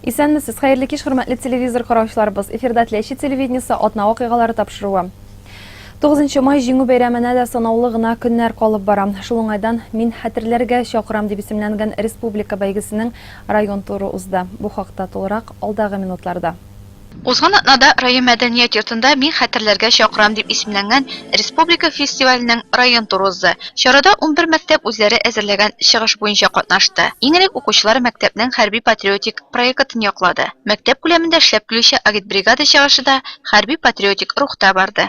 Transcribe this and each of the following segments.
Исәнмесез, хәерле кич, хөрмәтле телевизор караучыларыбыз. Эфирда Теләче телевидениесе атна вакыйгалары тапшыруы. 9 май җиңү бәйрәменә дә санаулы гына көннәр калып бара. Шул уңайдан Мин хәтерләргә чакырам дип исемләнгән республика бәйгесенең район туры узды. Бу хакта тулырак алдагы минутларда. Узган атнада район мәдәният йортында Мин хәтерләргә чакырам дип исемләнгән республика фестиваленең район туры узды. Чарада унбер мәктәп үзләре әзерләгән чыгыш буенча катнашты. Иң элек укучылар мәктәпнең хәрби-патриотик проекытын яклады. Мәктәп күләмендә эшләп килүче агитбригада чыгышы да хәрби-патриотик рухта барды.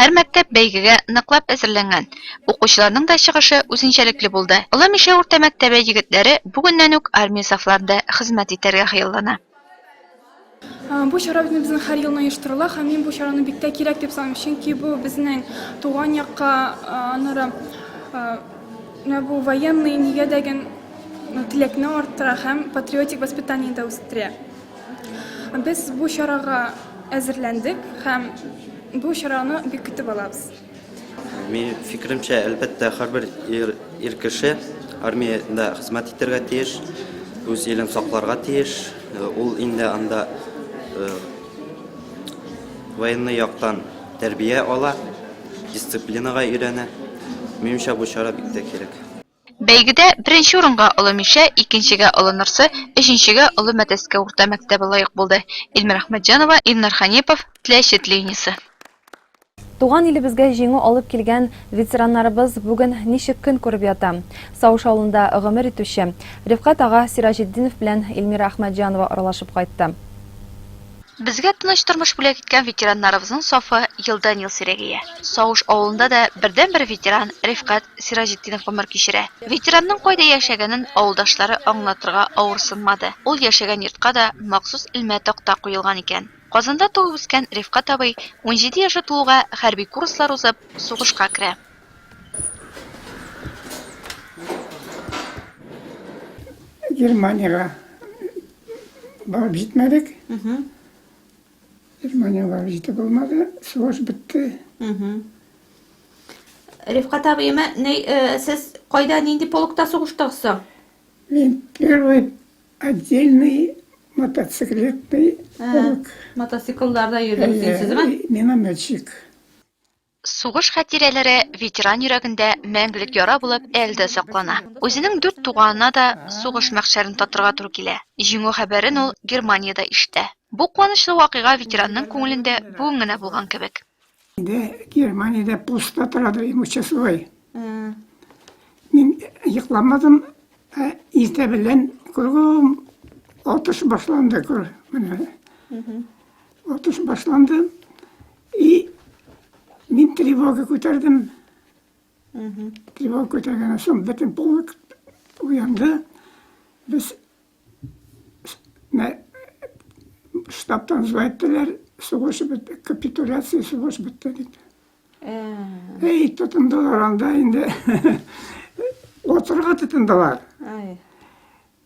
Һәр мәктәп бәйгегә ныклап әзерләнгән. Укучыларның да чыгышы үзенчәлекле булды. Олы Мишә урта мәктәбе егетләре бүгеннән үк армия сафларында хезмәт итәргә хыяллана. Бу чара үзебезнең һәр елны оештырыла һәм мин бу чараны бик тә кирәк дип саныйм, чөнки бу безнең туган якка, аннары менә бу военный нигә дә ген, теләкне арттыра һәм патриотик воспитание дә үстерә. Без бу чарага әзерләндек һәм бу чараны бик көтеп алабыз. Мин фикеремчә, әлбәттә, һәрбер ир, ир кеше армиядә хезмәт итәргә тиеш, үз илен сакларга тиеш. Ул инде анда военный яктан тәрбия ала, дисциплинага өйрәнә. Минемчә, бу чара бик тә кирәк. Бәйгедә беренче урынга Олы Мишә, икенчегә Олы Нырсы, өченчегә Олы Мәтәскә урта мәктәбе лаек булды. Илмира Әхмәтҗанова, Илнар Ханипов, Теләче телевидениесе. Туган илебезгә җиңү алып килгән ветераннарыбыз бүген ничек көн күреп ята? Сауш авылында гомер итүче Рифкать ага Сираҗетдинов белән Илмира Әхмәтҗанова аралашып кайтты. Безгә тыныч тормыш бүләк иткән ветераннарыбызның сафы елдан-ел сирәгәя. Сауш авылында да бердәнбер ветеран Рифкать Сираҗетдинов гомер кичерә. Ветеранның кайда яшәгәнен авылдашлары аңлатырга авырсынмады, ул яшәгән йортка да махсус элмә такта куелган икән. Казанда туып-үскән Рифкать абый унҗиде яше тулуга хәрби курслар узып, сугышка керә. Германиягә Барып җитмәдек. Германия барып җитеп булмады. Сугыш бетте. Рифкат абыема, э, сез кайда нинди полкта сугыштыгыз соң? Мин первый отдельный мотоциклетный полк. Мотоциклларда йөрдегез сез, ме? Минометчик. Сугыш хатирәләре ветеран йөрәгендә мәңгелек яра булып әле дә саклана. Үзенең дүрт туганына да сугыш мәхшәрен татырга туры килә. Җиңү хәбәрен ул Германиядә ишетә. Бу куанычлы вакыйга ветеранның күңелендә бүген генә булган кебек. Инде Германиядә постта тора ди участковый. Мин йокламадым, ә иртә белән кругом атыш башланды, күр, менә. Отыш башланды. И мин тревога күтәрдем. Тревога күтәргәннән соң бөтен полк уянды. Без штабтан звать әйттеләр, сугыш бетте, капитуляция сугыш бетте дип. Эй, тотындылар анда инде. Отырга тотындылар.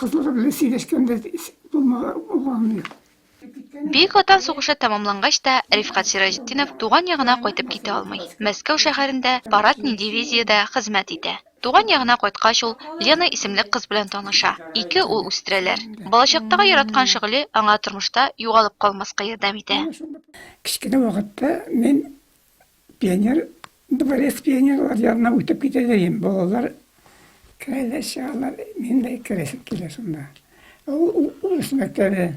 Кызлары белән сөйләшкәндә булмаган. Бөек Ватан сугышы тәмамлангач та Рифкат Сираҗетдинов туган ягына кайтып китә алмый. Мәскәү шәһәрендә парадный дивизиядә хезмәт итә. Туган ягына кайткач ул Лена исемле кыз белән таныша. Ике ул үстерәләр. Балачактагы яраткан шөгыле аңа тормышта югалып калмаска ярдәм итә. Кечкенә вакытта мин Пионер, дворец пионерлар янына үтеп китә дигән балалар керәләр, чыгалар. Мин дә керәсем килә шунда. Ул урыс мәктәбе.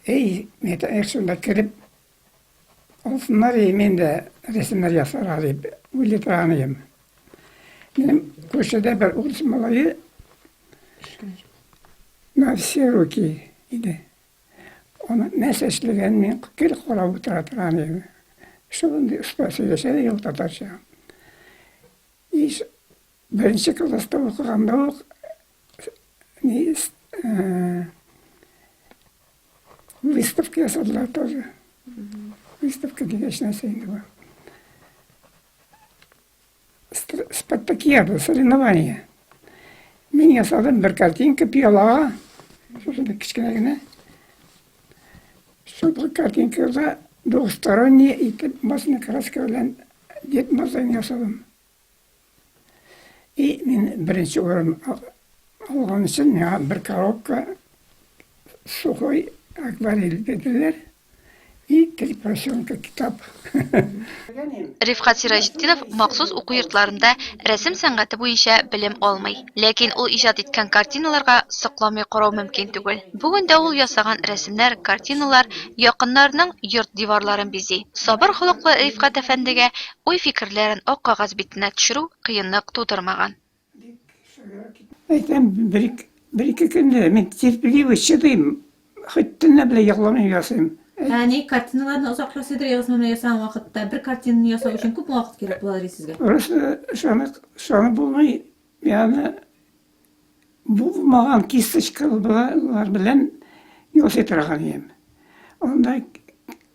Эй, мәктәбе шунда кереп, алсыннар, и мин дә рәсемнәр ясарга дип уйлый торган идем. Минем күршедә бер урыс малае на все руки иде. Аны нәрсә эшләгән мин гел карап утыра торган идем. Шундый оста сөйләшә дә ул татарча. Ис беренче класста укыганда ук ни выставка ясадылар тоже. Выставка дигәч нәрсә инде бу. Спартакиада, соревнование. Мин ясадым бер картинка пиалага, шушында кечкенә генә. Шул картинкада двухсторонний итеп басына краска белән Дед Мазай ясадым. И мин беренче урын алган өчен миңа бер коробка сухой акварель бирделәр. И три поросенка китап. Рифкат Сираҗетдинов махсус уку йортларында рәсем сәнгате буенча белем алмый. Ләкин ул иҗат иткән картиналарга сокланмый карау мөмкин түгел. Бүген дә ул ясаган рәсемнәр, картиналар якыннарының йорт диварларын бизи. Сабыр холыклы Рифкат әфәндегә уй-фикерләрен ак кагаз битенә төшерү кыенлык тудырмаган. Әйтәм, бер-ике көнне мин терпеливый чыдыйм, хоть төнлә белән йокламыйм, ясыйм. Әни, картиналарны озаклап сыйдыр язмы менә ясаган вакытта? Бер картинаны ясау өчен күпме вакыт кирәк була ди сезгә? Урысы шаны шаны булмый, яны булмаган кисточкалар белән ясый торган идем. Анда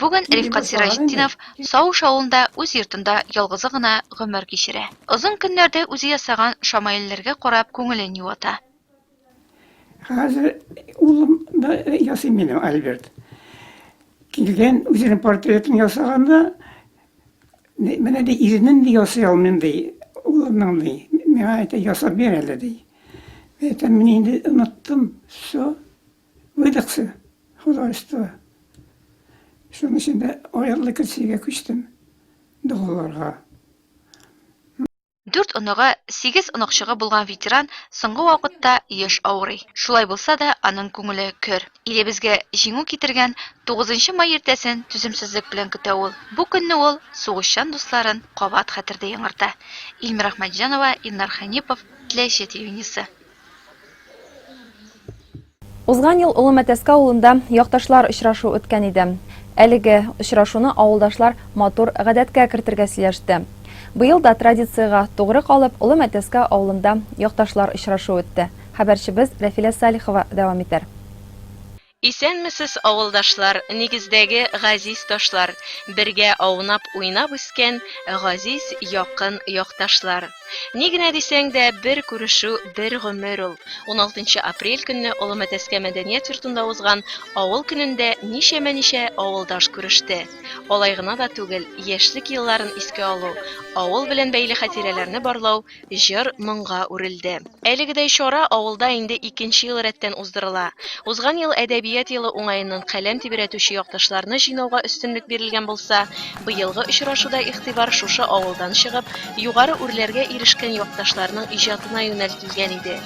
Бүген Рифкат Сираҗетдинов Сауш авылында үз йортында ялгызы гына гомер кичерә. Озын көннәрдә үзе ясаган шамаилләргә карап күңелен юата. Хәзер улым да ясый минем Альберт. Килгән үзенең портретын ясаганда, менә ди ирнен ди ясый алмыйм ди, улымның ди. Миңа әйтә ясап бир әле ди. Әйтәм, мин инде оныттым, все. Редакция, хозяйство. Шуның өчен дә аерылы кешегә күчтем догаларга. Дүрт оныгы, сигез оныкчыгы булган ветеран соңгы вакытта еш авырый. Шулай булса да, аның күңеле көр. Илебезгә Җиңү китергән тугызынчы май иртәсен түземсезлек белән көтә ул. Бу көнне ул сугышчан дусларын кабат хәтердә яңарта. Илмира Ахмәтҗанова, Илнар Хәнипов, Теләче телевидениесе. Узган ел Олы Мәтәскә авылында якташлар очрашу үткән иде. Әлеге очрашуны авылдашлар матур гадәткә кертергә сөйләште. Быел да традициягә тугры калып, Олы Мәтәскә авылында якташлар очрашу үтте. Хәбәрчебез Рәфилә Салихова дәвам итәр. Исәнмесез, авылдашлар, нигездәге газиз ташлар, бергә аунап, уйнап үскән газиз, якын якташлар. Ни генә дисәң дә, бер күрешү, бер гомер ул. Уналтынчы апрель көнне Олы Мәтәскә мәдәният йортында узган авыл көнендә ничәмә-ничә авылдаш күреште. Алай гына да түгел, яшьлек елларын искә алу, авыл белән бәйле хатирәләрне барлау җыр-моңга үрелде. Әлегедәй чара авылда инде икенче ел рәттән уздырыла. Узган ел Әдәбият елы уңаеннан каләм тибрәтүче якташларны җыйнауга өстенлек бирелгән булса, быелгы очрашуда игътибар шушы авылдан чыгып, югары үрләргә ирешкән якташларның иҗатына юнәлтелгән иде.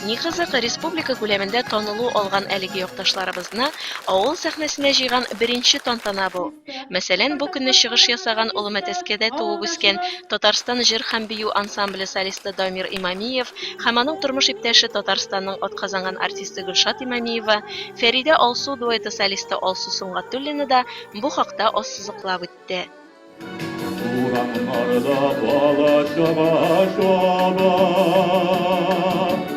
Ни кызык, республика күләмендә танылу алган әлеге якташларыбызны авыл сәхнәсенә җыйган беренче тантана бу. Мәсәлән, бу көнне чыгыш ясаган Олы Мәтәскәдә туып үскән Татарстан җыр һәм бию ансамбле солисты Дамир Имамиев һәм аның тормыш иптәше Татарстанның атказанган артисты Гөлшат Имамиева, Фәридә Алсу дуэты солисты Алсу Сөнгатуллина да бу хакта ассызыклап үтте. Урамнарда бала-чага чаба.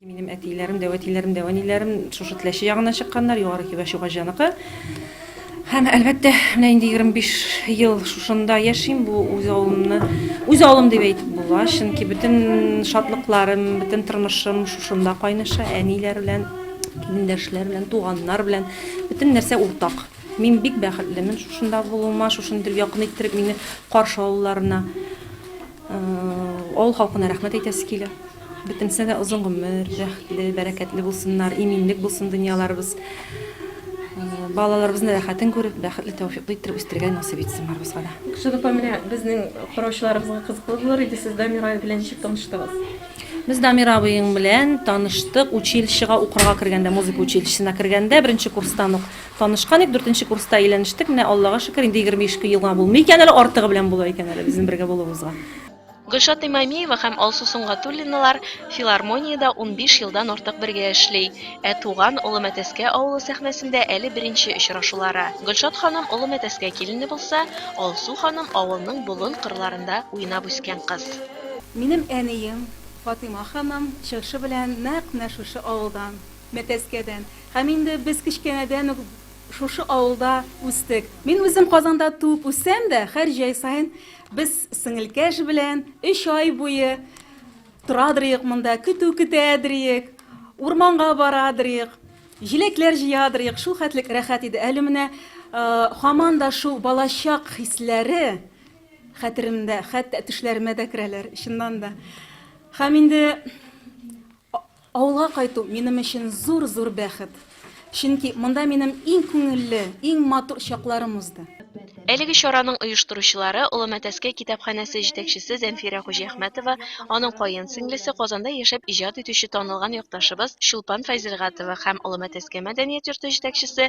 Минем әтийләрем дә, вәтийләрем дә, вәниләрем шушы Теләче ягыннан чыкканнар, Югары Кибә Чугаҗаныкы. Һәм, әлбәттә, менә инде егерме биш ел шушында яшим, бу үз авылымны үз авылым дип әйтеп була, чөнки бөтен шатлыкларым, бөтен тормышым шушында кайныша, әниләр белән, килендәшләр белән, туганнар белән, бөтен нәрсә уртак. Мин бик бәхетлемен шушында булуыма, шушыны итеп якын иттереп мине каршы алуларына. Авыл халкына рәхмәт әйтәсе килә. Бөтенесе дә озын гомер, бәхетле, бәрәкәтле булсыннар, иминлек булсын дөньяларыбыз. Балаларыбызны рәхәтен күреп, бәхетле, тәүфиклы иттереп үстерергә насыйп итсен барыбызга да. Шул апа, менә безнең караучыларыбызга кызыклы булыр иде, сез Дамир абый белән ничек таныштыгыз? Без Дамир абыең белән таныштык, училищега укырга кергәндә, музыка училищесына кергәндә, беренче курстан ук танышкан идек, дүртенче курста өйләнештек, менә Аллага шөкер, инде егерме ишке елга булмый икән әле, артыгы белән була икән әле безнең бергә булуыбызга. Гөлшат Имамиева һәм Алсу Сөнгатуллиналар филармониядә унбиш елдан артык бергә эшли. Ә туган Олы Мәтәскә авылы сәхнәсендә әле беренче очрашулары. Гөлшат ханым Олы Мәтәскә килене булса, Алсу ханым авылның болын кырларында уйнап үскән кыз. Минем әнием Фатыйма ханым чыгышы белән нәкъ менә шушы авылдан, Мәтәскәдән. Һәм инде без кечкенәдән үк шушы авылда үстек. Мин үзем Казанда туып үссәм дә, һәр җәй саен Без сеңелкәш белән өч ай буе торадырыйк монда, көтү көтәдерик, урманга барадырыйк, җиләкләр җыядырыйк. Шул хәтлек рәхәт иде. Әле менә хаман да шул балачак хисләре хәтеремдә, хәтта төшләремә дә керәләр, чыннан да. Хәм инде Авылга кайту минем өчен зур-зур бәхет. Чөнки монда минем иң күңелле, иң матур чакларым узды. Әлеге чараның оештыручылары, Олы Мәтәскә китапханәсе җитәкчесе Зәнфирә Хуҗиәхмәтова, аның каен сеңлесе, Казанда яшәп иҗат итүче танылган якташыбыз Чулпан Файзелгатова һәм Олы Мәтәскә мәдәният йорты җитәкчесе,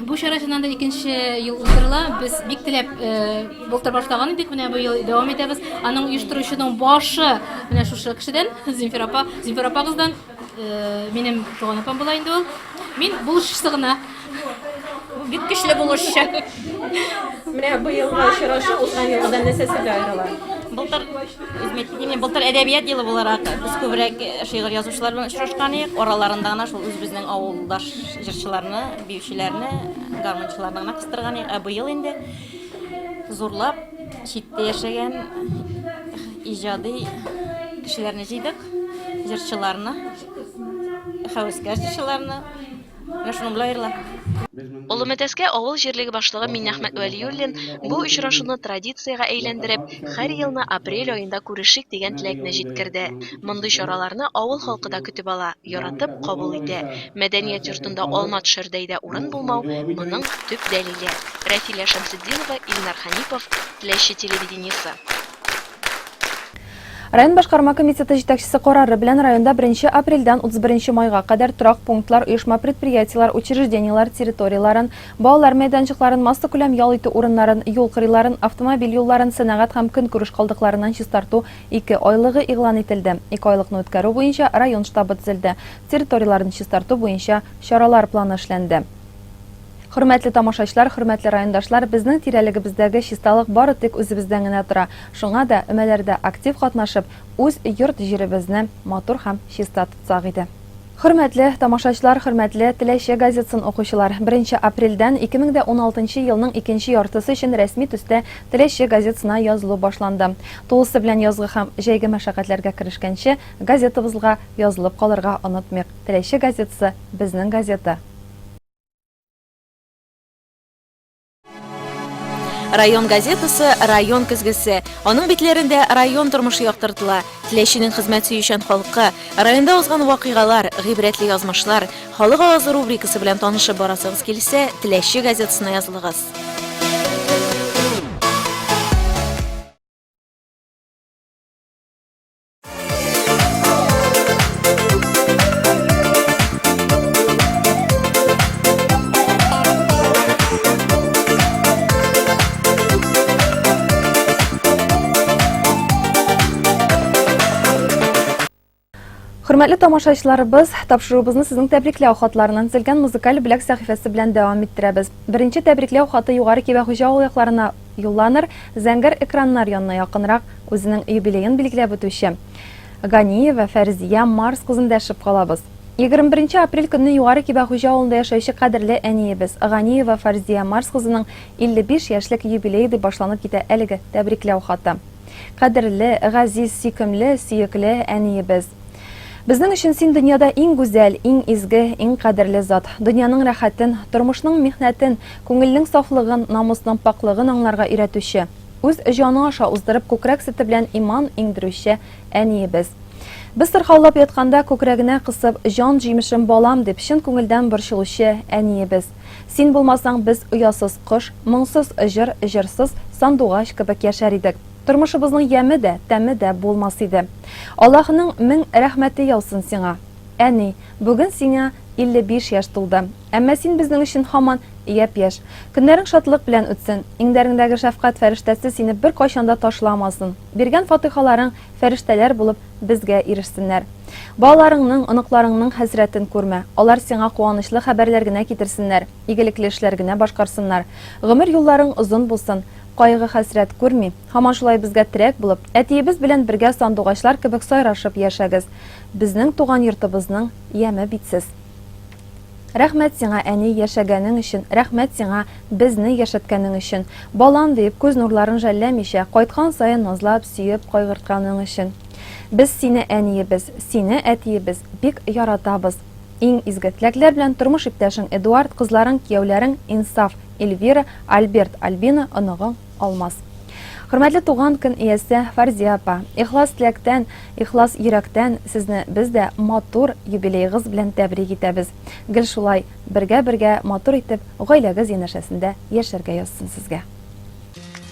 Бу чара чыннан да икенче ел уздырыла. Без бик теләп былтыр башлаган идек, менә бу ел дәвам итәбез. Аның оештыручының башы менә шушы кешедән, Зинфира апа, Зинфира апагыздан, минем туган апам була инде ул. Мин булышчысы гына. Бик көчле булышчы. Менә бу елга очрашу узган елгыдан нәрсә сезгә аерыла? Былтыр Изметдин былтыр әдәбият елы буларак без күбрәк шигырь язучылар белән очрашкан идек. Араларында гына шул үзебезнең авылдаш Җырчыларны, биючеләрне, гармунчыларны гына кыстырган идек, ә быел инде зурлап читтә яшәгән иҗади кешеләрне җыйдык, җырчыларны, хәвескәр җырчыларны. Менә шуның белән аерыла. Олы Мәтәскә авыл җирлеге башлыгы Миннәхмәт Вәлиуллин бу очрашуны традициягә әйләндереп, һәр елны апрель аенда күрешик дигән теләкне җиткерде. Мондый чараларны авыл халкы да көтеп ала. яратып кабул итә. Мәдәният йортында алма төшәрдәй дә урын булмау, моның төп дәлиле. Рәфилә Шәмсетдинова, Илнар Хәнипов, Теләче телевидениесе. Район башкарма комитеты җитәкчесе карары белән районда 1 апрельдән 31 майга кадәр торак пунктлар, оешма-предприятиеләр, учреждениеләр территорияләрен, балалар мәйданчыкларын, массакүләм ял итү урыннарын, юл кырыйларын, автомобиль юлларын, сәнәгать һәм көнкүреш калдыкларыннан чистарту Ике айлыгы игълан ителде. Ике айлыкны үткәрү буенча район штабы төзелде. Территорияләрне чистарту буенча чаралар планы эшләнде. Хөрмәтле тамашачлар, хөрмәтле райондашлар, безнең тирәлегебездәге чисталык бары тик үзебездән генә тора. Шуңа да өмәләрдә актив катнашып, үз йорт-җиребезне матур һәм чиста тотсак иде. Хөрмәтле тамашачлар, хөрмәтле Теләче газетсын укучылар! Беренче апрельдән 2016 елның икенче яртысы өчен рәсми төстә Теләче газетсына язылу башланды. Тулысы белән язгы һәм җәйге мәшәкатьләргә керешкәнче, газетабызлга язылып калырга онытмыйк. Теләче газетсы, безнең газета! Район газетасы Район көзгесе. Аның битләрендә район тормышы яктыртыла. Теләченең хезмәт сөючән халкы, районда узган вакыйгалар, гыйбрәтле язмышлар, халык авазы рубрикасы белән танышып барасыгыз килсә, Теләче газетасына язылыгыз. Хөрмәтле тамашачыларыбыз, тапшыруыбызны сезнең тәбрикләү хатларыннан тезелгән музыкаль бүләк сәхифәсе белән дәвам иттерәбез. Беренче тәбрикләү хаты Югары Кибә хуҗа авыл якларына Юлланыр, зәңгәр экраннар янына якынрак, үзенең юбилеен билгеләп үтүче Ганиева Фәрзия Марс кызын дәшеп калабыз. Егерме беренче апрель көнне Югары Кибәхуҗа авылында яшәүче кадерле әниебез Ганиева Фарзия Марс кызының 55 яшьлек юбилее дип башланып китә әлеге тәбрикләү хаты. Кадерле, газиз, сөйкемле, сөекле әниебез! Безнең өчен син дөньяда иң гүзәл, иң изге, иң кадерле зат. Дөньяның рәхәтен, тормышның михнәтен, күңелнең сафлыгын, намусның пакълыгын аңларга өйрәтүче, үз җаны аша уздырып күкрәк сөте белән иман иңдерүче әниебез. Без сырхаулап ятканда күкрәгенә кысып, җан җимешем балам дип чын күңелдән борчылучы әниебез. Син булмасаң, без оясыз кош, моңсыз җыр, җырсыз сандугач кебек яшәр идек. Тормышыбызның яме дә, тәме дә булмас иде. Аллаһының мең рәхмәте яусын сиңа. Әни, бүген сиңа 55 яшь тулды. Әмма син безнең өчен һаман япь-яшь. Көннәрең шатлык белән үтсен. Иңнәреңдәге шәфкать фәрештәсе сине беркайчан да ташламасын. Биргән фатыйхаларың фәрештәләр булып безгә ирешсеннәр. Балаларыңның, оныкларыңның хәсрәтен күрмә. Алар сиңа куанычлы хәбәрләр генә китерсеннәр, игелекле эшләр генә башкарсыннар. Гомер юлларың озын булсын. Кайгы-хәсрәт күрми. Һаман шулай безгә терәк булып, әтиебез белән бергә сандугачлар кебек сайрашып яшәгез. Безнең туган йортыбызның яме бит сез. Рәхмәт сиңа, әни, яшәгәнең өчен, рәхмәт сиңа, безне яшәткәнең өчен. Балам, диеп, күз нурларын жәлләмичә, кайткан саен назлап, сөеп, кайгыртканың өчен. Без сине, әниебез, сине, әтиебез, бик яратабыз. Иң изге теләкләр белән тормыш иптәшең Эдуард, кызларың, кияүләрең Инсаф. Эльвира, Альберт, Альбина, оныгың Алмаз. Хөрмәтле туган көн иясе Фарзия апа, ихлас теләктән, ихлас йөрәктән сезне без дә матур юбилейгыз белән тәбрик итәбез. Гел шулай бергә-бергә матур итеп гаиләгез янәшәсендә яшәргә язсын сезгә.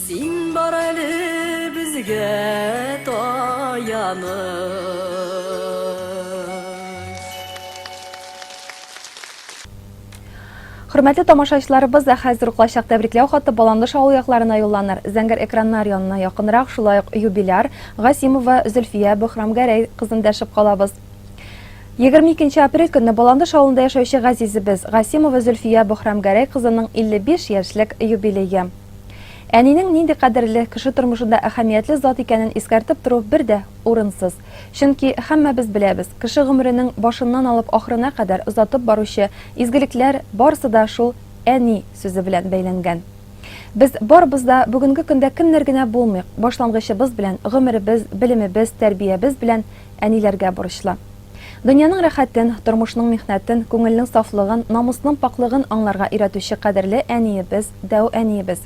Син бар әле безгә таяныч. Хөрмәтле тамашачыларыбыз, ә хәзер үк лайчак тәбрикләү хаты Баланлыш авылы якларына юлланыр. Зәңгәр экраннар янына якынрак шулай ук юбиляр, Гасимова Зөлфия Бөхрамгәрәй кызын дәшеп калабыз. 22 апрель көнне Баландыш авылында яшәүче газизебез Гасимова Зөлфия Бохрамгәрәй кызының 55 яшьлек юбилее. Әнинең нинди кадерле, кеше тормышында әһәмиятле зат икәнен искәртеп тору бер дә урынсыз. Чөнки һәммәбез беләбез, кеше гомеренең башыннан алып ахырына кадәр озатып баручы изгелекләр барысы да шул әни сүзе белән бәйләнгән. Без барыбыз да бүгенге көндә кемнәр генә булмыйк, башлангычыбыз белән, гомеребез, белемебез, тәрбиябез белән әниләргә бурычлы. Дөньяның рәхәтен, тормышның михнәтен, күңелнең сафлыгын, намусның пакълыгын аңларга өйрәтүче кадерле әниебез, дәү әниебез.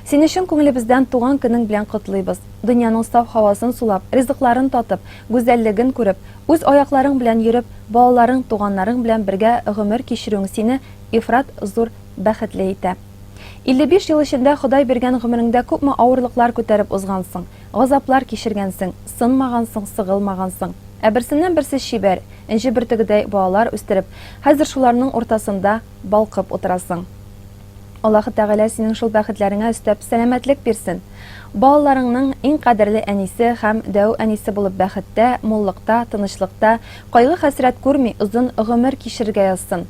Сине чын күңелебездән туган көнең белән котлыйбыз. Дөньяның саф һавасын сулап, ризыкларын татып, гүзәллеген күреп, үз аякларың белән йөреп, балаларың, туганнарың белән бергә гомер кичерүең сине ифрат зур бәхетле итә. 55 ел эчендә Ходай биргән гомереңдә күпме авырлыклар күтәреп узгансың, газаплар кичергәнсең, сынмагансың, сыгылмагансың. Ә берсеннән-берсе чибәр, энҗе бөртегедәй балалар үстереп, хәзер шуларның уртасында балкып утырасың. Аллаһы Тәгалә синең шул бәхетләреңә өстәп сәламәтлек бирсен. Балаларыңның иң кадерле әнисе һәм дәү әнисе булып бәхеттә, муллыкта, тынычлыкта, кайгы-хәсрәт күрми озын гомер кичерергә язсын.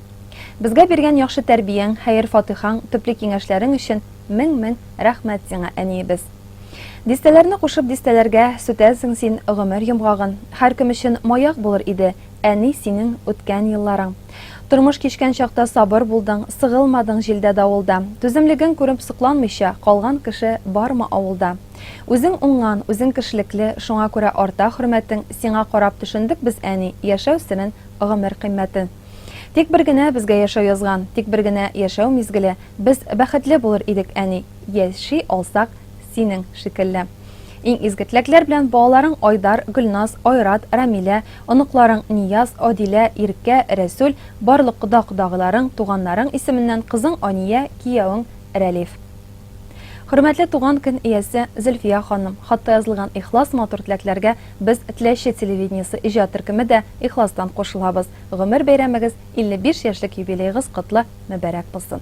Безгә биргән яхшы тәрбияң, хәер-фатыйхаң, төпле киңәшләрең өчен мең-мең рәхмәт сиңа, әниебез! Дистәләрне кушып дистәләргә сүтәсең син гомер йомгагын. Һәркем өчен маяк булыр иде, әни, синең үткән елларың. Тормыш кичкән чакта сабыр булдың, сыгылмадың җилдә-давылда. Түземлегең күреп сокланмыйча калган кеше бармы авылда? Үзең уңган, үзең кешелекле, шуңа күрә арта хөрмәтең, сиңа карап төшендек без, әни, яшәү серен, гомер кыйммәтен. Тик бер генә безгә яшәү язган, тик бер генә яшәү мизгеле, без бәхетле булыр идек, әни, яши алсак синең шикелле. Иң изге теләкләр белән балаларың Айдар, Гөлназ, Айрат, Рамилә, оныкларың Нияз, Адилә, Иркә, Рәсүл, барлык кода-кодагыйларың, туганнарың исеменнән кызың Ания, киявең Рәлиф. Хөрмәтле туган көн иясе Зөлфия ханым, хатта язылган ихлас матур теләкләргә без Теләче телевидениесе иҗат төркеме дә ихластан кушылабыз. Гомер бәйрәмегез, 55 яшьлек юбилеегыз котлы, мөбарәк булсын!